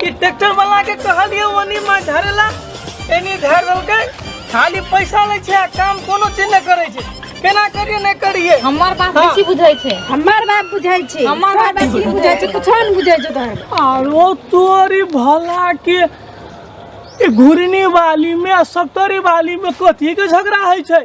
कि ट्रैक्टर वाला के कहलिए ओनी माछ धरेला एनी धर देलकै खाली पैसा लै छै आ काम कोनो चीज नहि करै छै केना करिए नहि करिए हमर बात हाँ। बेसी बुझै छै हमर बात बुझै छै हमर बात बेसी बुझै छै कुछो नहि बुझै छै तोहर आरो तोरी भला के घुरनी वाली में सप्तरी वाली में कथी के झगड़ा है छै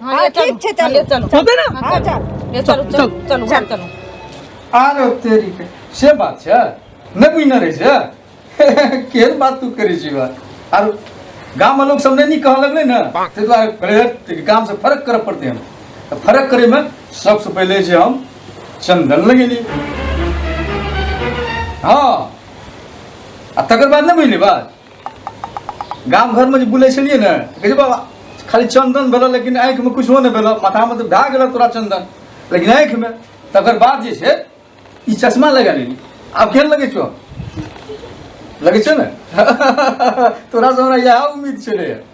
हाँ, ठीक छे चल चलो चलते ना हाँ चल ये चलो चल चलो चल चलो आ रे तेरी के से बात छे ने बुझ न रहे छे केन बात तू करे छी बा आर गाम लोग सब नहीं कह लगले ना ते द्वारा करे गाम से फर्क कर पड़ते हम तो फर्क करे में सबसे पहले जे हम चंदन लगेली हाँ आ तकर बाद नहीं बुझली बात गाम घरमे जे बुलै छलियै ने कहै बाबा खाली चन्दन भेल लेकिन आँखिमे किछो नहि भेल माथामे तऽ भए गेल तोरा चन्दन लेकिन आँखिमे तकर बाद जे छै ई चश्मा लगा लेली आब केहन लगै छौ लगै छै ने तोरा से हमरा इएह उम्मीद छलै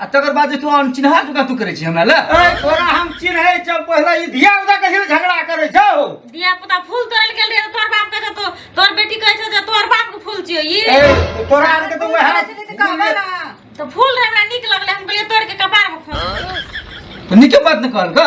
आ तकर बाद जे तू हम चिन्हा चुका तू करे छी हमरा ले ए तोरा हम चिन्है छौ पहिले ई धिया पुता के हिल झगड़ा करै छौ धिया पुता फूल तोड़ल गेल रहे तोर बाप कहै तो तोर बेटी कहै छै जे तोर बाप के फूल छियो ई ए तोरा आर के तो वह कहबे ना तो फूल रहे हमरा नीक लगले हम कहलिए तोड़ के कपार में खोस तो नीके बात न कहल का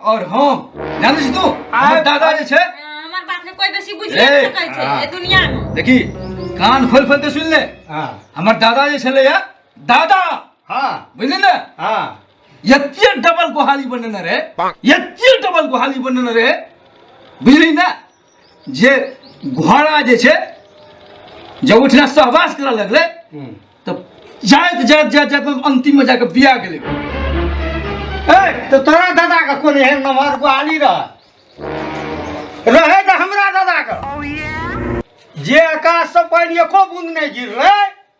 और हम जानै छी तू हमर दादा जे छै हमर बात ने कोई बेसी बुझि ए, नै सकै छै ए दुनिया में देखी कान खोल खोल के सुन ले हाँ हमर दादा जे छलै या दादा हाँ बुझली ने हाँ यत्ते डबल गोहाली बनेने रहे यत्ते डबल गोहाली बनेने रहे बुझली ने जे घोड़ा जे छै जब ओहिठिना सहवास करऽ लगलै तऽ जाइत जाइत जाइत जाइत अन्तिममे जाकऽ बिया गेलै ए तऽ तोरा दादा के कोन एहन नमहर गुआली रह रहे तऽ हमरा दादा के जे आकाश से पानि एको बूंद नहि गिरलै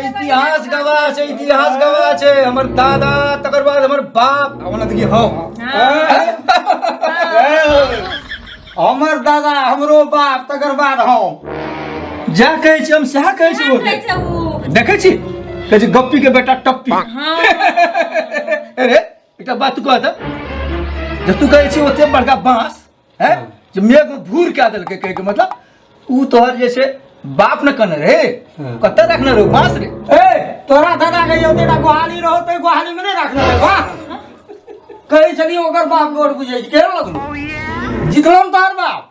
इतिहास गवाह छै इतिहास गवाह छै हमर दादा तकर बाद हमर बाप ओना देखिए हौ हमर दादा हमरो बाप तकर बाद हौ जा कहै छी हम सएह कहै छी ओ देखै छी कहै छी गप्पी के बेटा टप्पी अरे एकटा बात कह दे जे तू कहै छी ओते बड़का बाँस है जे मेघ भूर कए देलकै कहै के मतलब ऊ तोहर जे छै बाप ने कने रे हँ। कतऽ रखने रहो बाँस रे ए तोरा दादा के यौ तेरा गोहाली रहो तो गोहाली में नहीं रखना है वाह कहे चली ओकर बाप गोर बुझे के लगलो जितलम तोहर बाप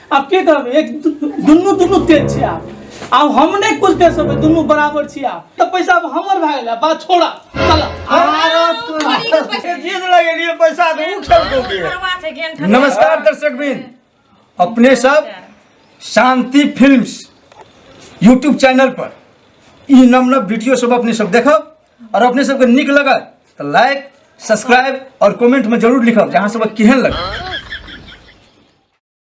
आब की कहबै एक दुनू दुनू तेज छै आब आब हम नहि कुछ कह सकबै दुनू बराबर छी आब तऽ पैसा आब हमर भए गेलै बात छोड़ा चल जीत लगे लिए पैसा दे उ खेल को के नमस्कार दर्शक बिन अपने सब शांति फिल्म्स यूट्यूब चैनल पर ई नव नव वीडियो सब अपने सब देखब और अपने सबके नीक लगल तो लाइक सब्सक्राइब और कमेंट में जरूर लिखब जहाँ सब केहन लगल